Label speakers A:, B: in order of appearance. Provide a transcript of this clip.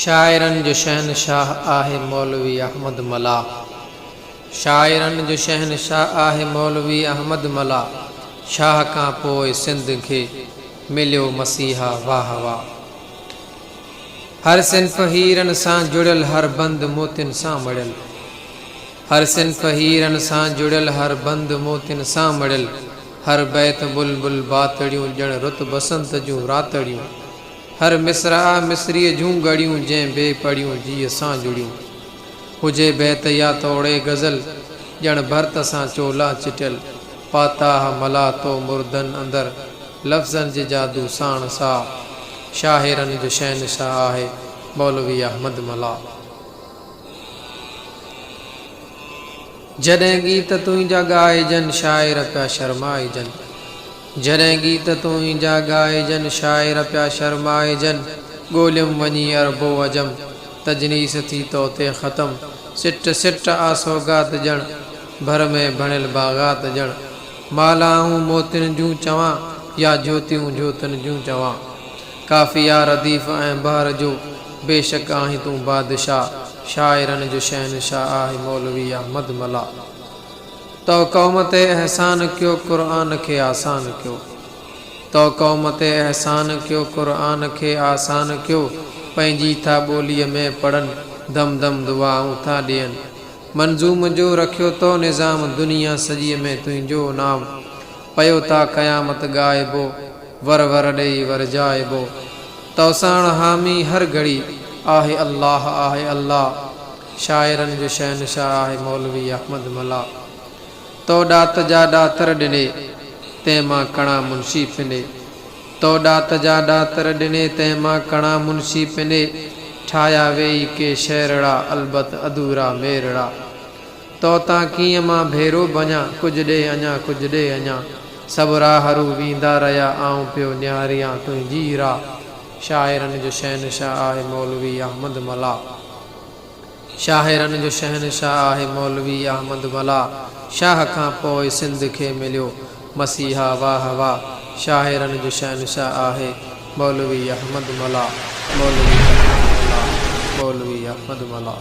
A: شاعرن جو شهنشاهه آهي مولوي احمد ملاح شاعرن جو شهنشاهه آهي مولوي احمد ملاح شاهه کان پوء سنڌ کي مليو مسيحا واهه واهه. هر صنف هيرن سان جڙيل هر بند موتين سان مڙيل هر صنف هيرن سان جڙيل هر بند موتين سان مڙيل هر بيت بلبل باتڙيون ڄڻ رت بسنت جون راتڙيون هر مصرع مصريء جون ڳڙيون جنهن بي پڙيون جيء سان جڙيون هجي بيت يا توڙي غزل ڄڻ ڀرت سان چولا چٽيل. پاتاه ملا تو مردن اندر، لفظن جي جادو ساڻ سا، شاهرن جو شهنشاهه آهي، مولوي احمد ملا. جڏهن ڳيت تنهنجا ڳائجن، شاعر پيا شرمائجن. جڏهن ڳيت تنهنجا ڳائجن، شاعر پيا شرمائجن. ڳوليم وڃي عرب و عجم، تجنيس ٿي توتي ختم. سٽ سٽ آ سوغات ڄڻ. ڀر ۾ ڀڻيل باغات ڄڻ مالهائون موتين جون چوان يا جوتيون جوتين جون چوان. ڪافي آ رديف ۽ بحر جو بيشڪ آهين تون بادشاهه شاعرن جو شهنشاهه آهي مولوي احمد ملاح تو قوم تي احسان ڪيو قرآن کي آسان ڪيو تو قوم تي احسان ڪيو قرآن کي آسان ڪيو پنهنجي ٿا ٻوليء ۾ پڙهن دم دم دعائون ٿا ڏين منظوم جو رکيو تو نظام دنيا سڄيء ۾ تنهنجو نام پيو تا قيامت ڳائبو ور ور ڏيئي ورجائبو توساڻ حامي هر گهڙي آهي الله آهي الله شاعرن جو شهنشاهه آهي مولوي احمد ملاح تو ڏات جا ڏاتر ڏني تنهن مان ڪڻا منشي ڦنڊي تو ڏات جا ڏاتر ڏني تنهن مان ڪڻا منشي پني ٺاهيا ويئي ڪي شعرڙا البت اڌورا ميرڙا تو تان ڪيئن مان ڀيرو ڀڃا ڪجهه ڏي اڃا ڪجهه ڏي اڃا سڀ راهرو ويندا رهيا آئون پيو نهاريان تنهنجي راهه شاعرن جو شهنشاهه آهي مولوي احمد ملاح. شاعرن جو شهنشاهه آهي مولوي احمد ملاح شاهه کان پوء سنڌ کي مليو مسيحا واه واه شاعرن جو شهنشاهه آهي مولوي احمد ملاح مولوي احمد ملاح مولوي احمد ملاح.